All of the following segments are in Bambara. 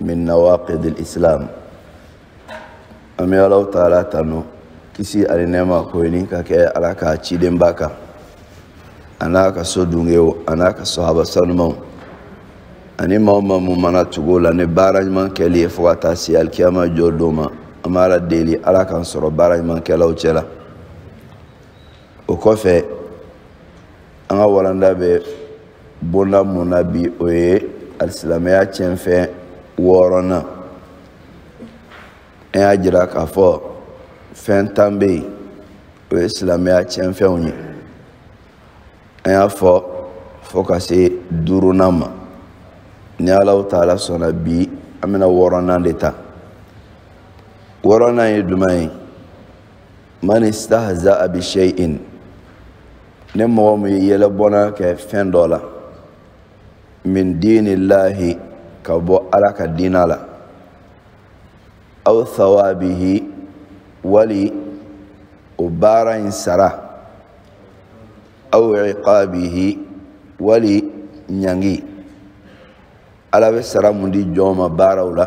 min nawaqidil islam an bɛ alaw taala tanu kisi ani nɛɛma k'o ɲini ka kɛ ala ka cidenba kan an'a ka so dungew an'a ka sɔhaba sanumaw ani maa o maa mun mana tugu u la ni baara ɲuman kɛli ye fo ka taa se alikiyama jɔ don ma an b'ala deli ala k'an sɔrɔ baara ɲuman kɛlaw cɛ la o kɔfɛ an ka walanda bɛ bolola mun na bi o ye alisilamɛya tiɲɛfɛn wɔɔrɔnan an y'a jira k'a fɔ fɛn tan bɛ yen o ye silamɛya tiɲɛfɛnw ye an y'a fɔ fo ka se duurunan ma ni alaw taala sɔnna bi an bɛna wɔɔrɔnan de ta wɔɔrɔnan ye jumɛn ye man istahza'a bi shay'in ni mɔgɔ min yɛlɛbɔnna kɛ fɛn dɔ la min diinillahi ka bɔ ala ka diina la aw thawabihi wali o baara in sara aw iqabihi wali ɲangi ala bɛ sara mun di jɔn ma baaraw la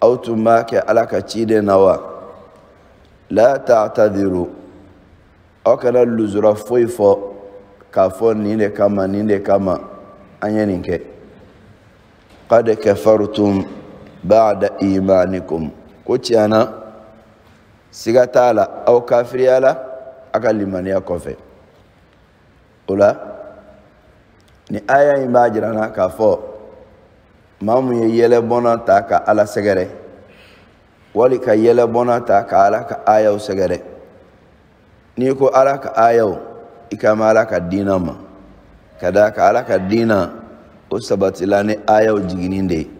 aw tun b'a kɛ ala ka ciden na wa la ta'tadiru aw kana luzura foyi fɔ k'a fɔ nin de kama nin de kama an ye nin kɛ qad kafartum ba'da imanikum ko tiɲɛ na siga t'a la aw kafiriyala a ka limaniya kɔfɛ o la ni aya in b'a jira an na k'a fɔ maa mun ye yɛlɛbɔnna ta ka ala sɛgɛrɛ wali ka yɛlɛbɔnna ta ka ala ka ayaw sɛgɛrɛ n'i ko ala ka ayaw i kan b'ala ka diina ma ka d'a kan ala ka diina o sabatila ni ayaw jiginni de ye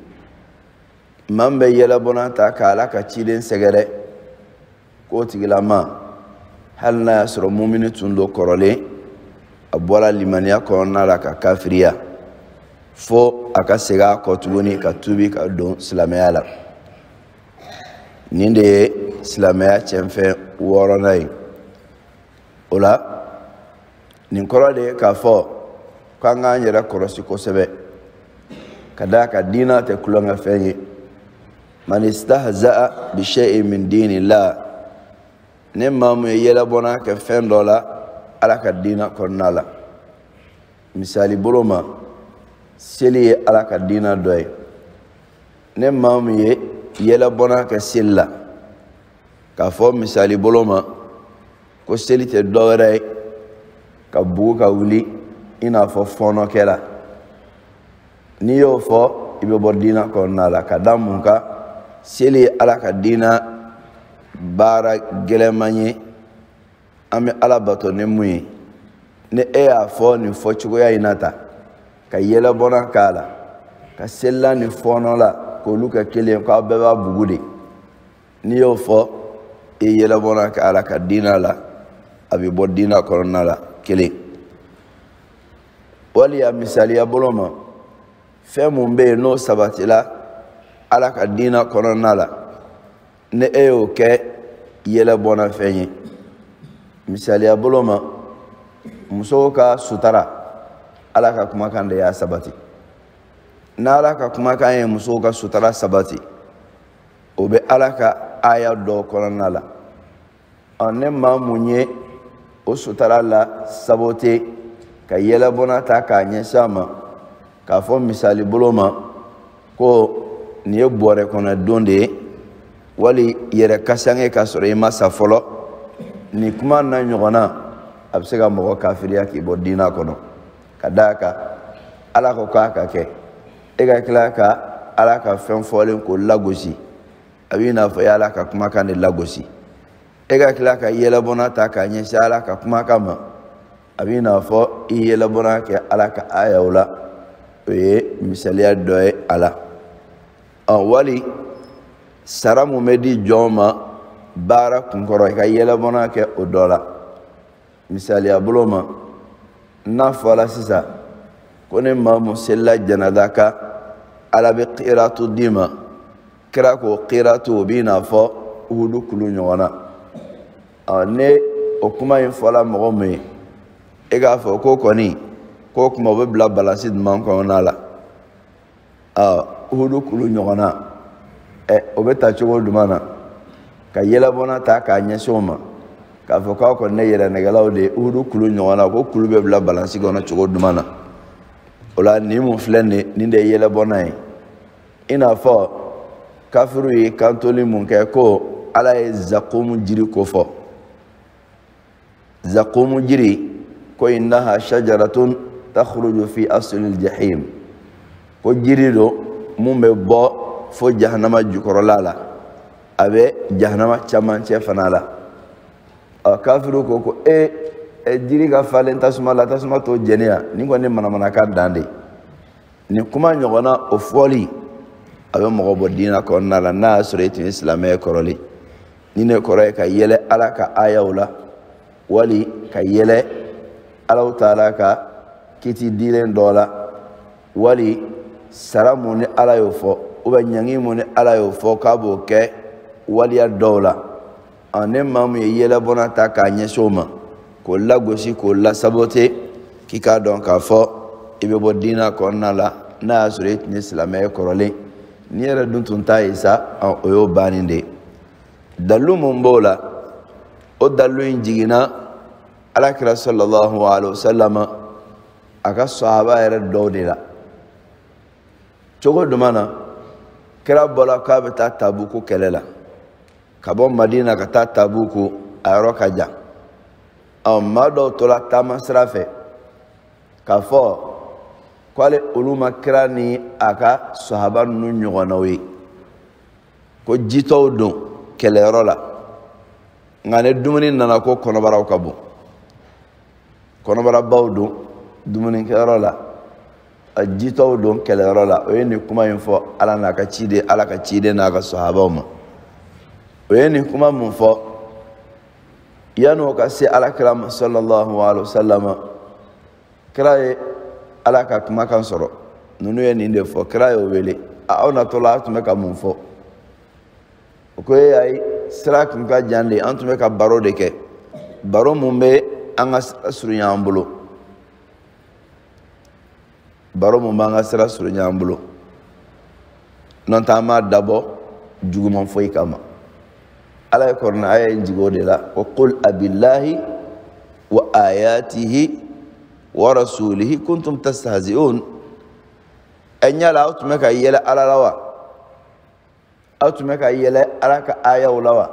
maa min bɛ yɛlɛbɔnna ta ka ala ka ciden sɛgɛrɛ k'o tigilama hali n'a y'a sɔrɔ mumini tun don kɔrɔlen a bɔla limaniya kɔnɔna la ka kafiriya fo a ka segin a kɔ tuguni ka tubi ka don silamɛya la nin de ye silamɛya cɛnfɛn wɔɔrɔnan ye o la nin kɔrɔ de ye k'a fɔ k'an k'an yɛrɛ kɔlɔsi kosɛbɛ ka d'a kan diina tɛ tulonkɛfɛn ye man istahza'a bi shay'in min dinillah ni maa mun ye yɛlɛbɔnna kɛ fɛn dɔ la ala ka diina kɔnɔna la misali bolo ma seli ye ala ka diina dɔ ye ni maa mun ye yɛlɛbɔnna kɛ seli la k'a fɔ misali bolo ma ko seli tɛ dɔ wɛrɛ ye ka bugu ka wuli i n'a fɔ fɔɔnɔkɛla n'i y'o fɔ i bɛ bɔ diina kɔnɔna la ka da mun kan seli ye ala ka diina baara gɛlɛman ye an bɛ ala bato ni mun ye ni e y'a fɔ nin fɔ cogoya in na ta ka yɛlɛbɔna k'a la ka selila ni fɔɔnɔla k'olu kɛ kelen k'aw bɛɛ b'a bugu de n'i y'o fɔ i yɛlɛbɔna kɛ ala ka diina la a bɛ bɔ diina kɔnɔna la kelen wali a misaliya bolo ma fɛn mun bɛ yen n'o sabatila ala ka diina kɔnɔna la ni e y'o kɛ yɛlɛbɔna fɛn ye misaliya bolo ma musow ka sutara ala ka kumakan de y'a sabati n'ala ka kumakan ye musow ka sutara sabati o bɛ ala ka aya dɔ kɔnɔna la ɔ ni maa mun ye o sutara la sabote ka yɛlɛbɔna ta k'a ɲɛsin a ma k'a fɔ misali bolo ma ko nin ye bɔrɛ kɔnɔ don de ye wali yɛrɛ kasange k'a sɔrɔ i ma sa fɔlɔ nin kuma na ɲɔgɔnna a bɛ se ka mɔgɔ kafiriya k'i bɔ diina kɔnɔ ka d'a kan ala ko k'a ka kɛ e ka tila ka ala ka fɛn fɔlen ko lagosi a b'i n'a fɔ i ye ala ka kumakan de lagosi e ka tila ka yɛlɛbɔna ta k'a ɲɛsin ala ka kumakan ma a b'i n'a fɔ i yɛlɛbɔna kɛ ala ka ayaw la o ye misaliya dɔ ye a la wali sara mun bɛ di jɔn ma baara kunkɔrɔ i ka yɛlɛbɔna kɛ o dɔ la misaliya bolo ma n'a fɔla sisan ko ni maa mun selila janada kan ala bɛ kiratu d'i ma kira ko kiratu o b'i n'a fɔ uhudu kulu ɲɔgɔn na ɔ ni o kuma in fɔla mɔgɔ min ye e k'a fɔ ko kɔni k'o kuma o bɛ bila balansi jumɛn kɔnɔna la uhudu kulu ɲɔgɔn na o bɛ ta cogo jumɛn na ka yɛlɛbɔna ta k'a ɲɛsin o ma k'a fɔ k'aw kɔni ye yɛrɛnɛgɛlaw de ye uhudu kulu ɲɔgɔn na ko kulu bɛ bila balansi kɔnɔ cogo jumɛn na o la nin mun filɛ nin ye nin de ye yɛlɛbɔna ye i n'a fɔ kafiriw ye kantoli mun kɛ ko ala ye zakumu jiri ko fɔ zakumu jiri ko innaha shajaratun takhruju fi aslil jahim ko jiri don mun bɛ bɔ fo jahanama jukɔrɔla la a bɛ jahanama camancɛ fana la ɔ kafiriw ko ko e e jiri ka falen tasuma la tasuma t'o jeni yan nin kɔni manamanakan dan de nin kuma ɲɔgɔnna o fɔli a bɛ mɔgɔ bɔ diina kɔnɔna la n'a y'a sɔrɔ e tun ye silamɛ ye kɔrɔlen nin in kɔrɔ ye ka yɛlɛ ala ka ayaw la wali ka yɛlɛ allahu taala ka kiti dilen dɔ la wali sara mun ni ala y'o fɔ u bɛ ɲangi mun ni ala y'o fɔ k'a b'o kɛ waliya dɔw la ɔ ni maa mun ye yɛlɛbɔna ta k'a ɲɛsin o ma k'o lagosi k'o lasabote k'i k'a dɔn k'a fɔ i bɛ bɔ diina kɔnɔna la n'a y'a sɔrɔ i tun ye silamɛ ye kɔrɔlen n'i yɛrɛ dun tun t'a ye sa o y'o bannen de ye dalilu mun b'o la o dalilu in jiginna alakira sallallahu alaihi wasallam a ka sahaba yɛrɛ dɔw de la cogo jumɛn na kira bɔla k'a bɛ taa tabuku kɛlɛ la ka bɔ madina ka taa tabuku a yɔrɔ ka jan ɔ maa dɔw tora taama sira fɛ k'a fɔ k'ale olu ma kira ni a ka sahaba ninnu ɲɔgɔnnaw ye ko jitɔw don kɛlɛyɔrɔ la nka ni dumuni nana ko kɔnɔbaraw ka bon kɔnɔbarabaw don dumunikɛyɔrɔ la a jitɔw don kɛlɛyɔrɔ la o ye nin kuma in fɔ ala n'a ka ciden ala ka ciden n'a ka sahabaw ma o ye nin kuma mun fɔ yan'o ka se alakira ma sallallahu alaihi wa sallam kira ye ala ka kumakan sɔrɔ ninnu ye nin de fɔ kira y'o wele aw natɔla a tun bɛ ka mun fɔ o ko e ayi sira kun ka jan de an tun bɛ ka baro de kɛ baro mun bɛ an ka surunya an bolo baro mun b'an ka sira surunya an bolo n'o tɛ an m'a dabɔ juguman foyi kama ala ye kurana aya in jigi o de la ko qul abillahi wa ayatihi wa rasulihi kuntum tastahzi'un ɛ yala aw tun bɛ ka yɛlɛ ala la wa aw tun bɛ ka yɛlɛ ala ka ayaw la wa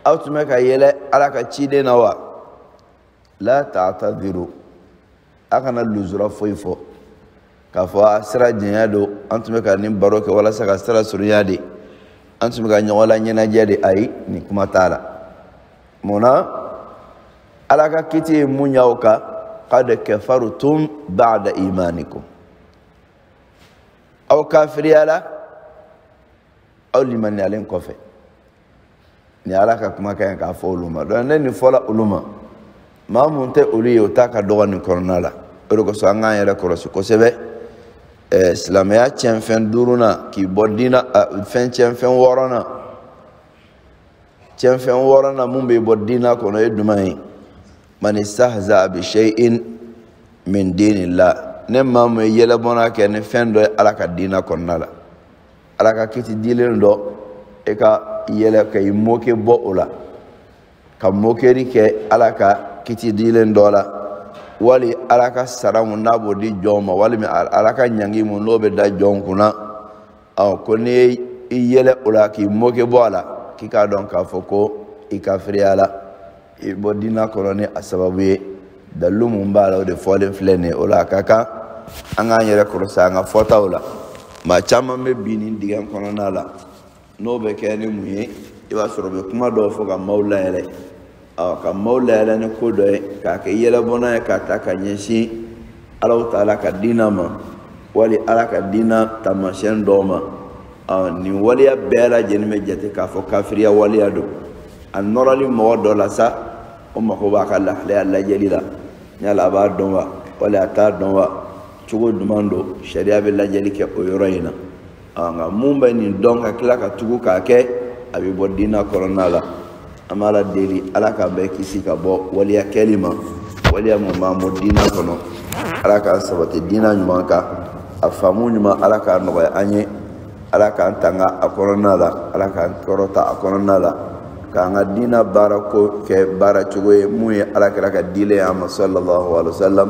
aw tun bɛ ka yɛlɛ ala ka ciden na wa la ta'tadiru a kana luzura foyi fɔ k'a fɔ a sira janya don an tun bɛ ka nin baro kɛ walasa ka sira surunya de an tun bɛ ka ɲɔgɔn laɲɛnajɛ de ayi nin kuma t'a la mun na ala ka kiti ye mun y'aw kan qad kafartum ba'da imanikum aw kafiriyala aw limaniyalen kɔfɛ ni ala ka kumakan in k'a fɔ olu ma donc ni nin fɔla olu ma maa mun tɛ olu ye o ta ka dɔgɔ nin kɔnɔna la o de kosɔn an k'an yɛrɛ kɔlɔsi kosɛbɛ ɛɛ silamɛya tiɲɛnfɛn duurunan k'i bɔ diina fɛn tiɲɛnfɛn wɔɔrɔnan tiɲɛnfɛn wɔɔrɔnan mun b'i bɔ diina kɔnɔ o ye jumɛn ye man istahza bi shay'in min dinillah ni maa mun ye yɛlɛbɔnna kɛ ni fɛn dɔ ye ala ka diina kɔnɔna la ala ka kiti dilen dɔ e ka yɛlɛ ka i moke bɔ o la ka mokeri kɛ ala ka kiti dilen dɔ la wali ala ka sara mun n'a b'o di jɔn ma walima ala ka ɲangi mun n'o bɛ da jɔn kunna ɔ ko n'i ye i yɛlɛ o la k'i moke bɔ a la k'i k'a dɔn k'a fɔ ko i kafiriyala i bɔ diina kɔnɔ ni a sababu ye dalilu mun b'a la o de fɔlen filɛ nin ye o la a ka kan an k'an yɛrɛ kɔlɔsi an ka fɔtaw la maa caman bɛ bi nin dingɛ kɔnɔna la n'o bɛ kɛ ni mun ye i b'a sɔrɔ u bɛ kuma dɔw fɔ ka maaw layɛlɛ ɔ ka maaw layɛlɛ ni ko dɔ ye k'a kɛ yɛlɛbɔnna ye k'a ta ka ɲɛsin alahu taala ka diina ma wali ala ka diina taamasiyɛn dɔw ma nin waleya bɛɛ lajɛlen bɛ jate k'a fɔ kafiriya waleya don a nɔrɔli mɔgɔ dɔ la sa o mago b'a ka lahalaya lajɛli la yala a b'a dɔn wa wali a t'a dɔn wa cogo jumɛn don sariya bɛ lajɛli kɛ o yɔrɔ in na nka mun bɛ nin dɔn ka tila ka tugu k'a kɛ a bɛ bɔ diina kɔnɔna la an b'ala deli ala k'an bɛɛ kisi ka bɔ waleya kɛli ma waleya mun b'an bɔ diina kɔnɔ ala k'an sabati diina ɲuman kan a faamu ɲuman ala k'a nɔgɔya an ye ala k'an tanga a kɔnɔna la ala k'an kɔrɔta a kɔnɔna la k'an ka diina baara ko kɛ baara cogo ye mun ye ala kira ka dilen ye an ma sallallahu alaihi wa sallam